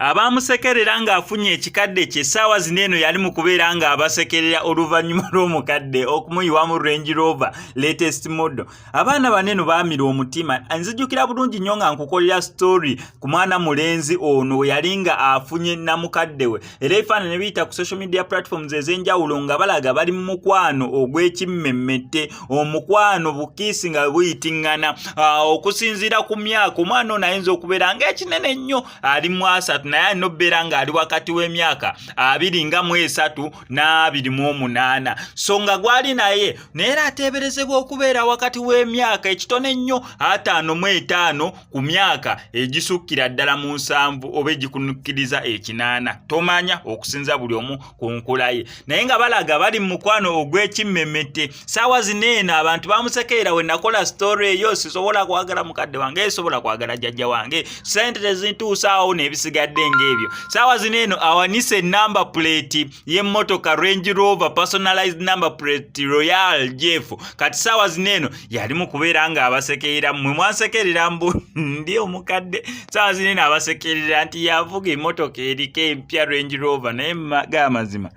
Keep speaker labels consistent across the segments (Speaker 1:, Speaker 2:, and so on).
Speaker 1: abaamusekerera ng'afunye ekikadde kye essaawa zino eno yali mu kubeera ng'abasekerera oluvannyuma lw'omukadde okumuyiwamu range rover latest model abaana bane no baamira omutima nzijukira bulungi nnyo nga nkukolera story ku mwana mulenzi ono yali nga afunye namukadde we era ebifaananyi ne biyita ku social media platforms ez'enjawulo nga balaga bali mu mukwano ogw'ekimmemmette omukwano bukiisi nga buyitingana ah, okusinziira ku myaka omwana ono ayinza okubeera nga ekinene nnyo ali mu asatu naye alina okubeera ng'ali wakati w'emyaka abiri nga mu esatu n'abiri mu omunaana so nga gwali naye naye era ateeberezebwa okubeera wakati w'emyaka ekitono ennyo ataano mu etaano ku myaka egisukkira ddala mu nsanvu oba egikunukkiriza ekinaana tomanya okusinza buli omu ku nkula ye naye nga balaga bali mu mukwano ogw'ekimmemete saawa zino eno abantu bamusekeera we nakola sitoore eyo sisobola kwagala mukadde wange esobola kwagala jjajja wange sente tezintuusaawo n'ebisigadde ng'ebyo saawa zino eno awanise enamba puleeti y'emmotoka range rover personalized number plate royal jeff kati saawa zino eno yali mu kubeera ng'abasekeera mmwe mwansekerera mbu ndi omukadde saawa zino eno abasekerera nti yavuga emmotoka eriko empya range rover naye ga amazima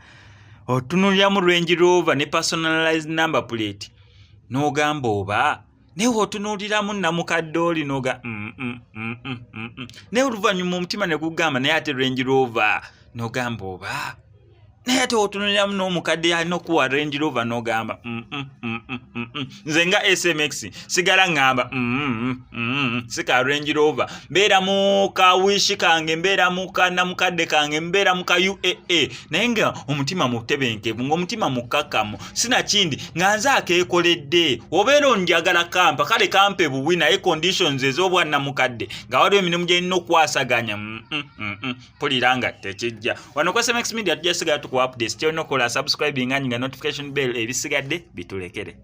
Speaker 1: otunuliramu range rover ne personalized number plate n'ogamba oba naye otunuliramu namukadde oli noga mm, mm, mm, naye oluvannyuma omutima ne gugamba naye ate range rover nogamba oba naye ate otunuliramu n'omukadde yalina okuwa range rover nogamba nze nga smx sigala ŋŋamba mm, mm, si ka range rover mbeera mu ka wishi kange mbeera mu ka namukadde kange mbeera mu ka uaa naye nga omutima mutebenkevu ngaomutima mukkakkamu sinakindi nga nze akeekoledde obeera onjagala kampa kale kampe buwi naye conditions ez'obwannamukadde nga waliwo emirimu gyerina okukwasaganya mm, pulira nga tekijja wano ku smx media tujja sigala tukuwa updates kyolina okukola subscribing anyi nga notification bell ebisigadde bitulekere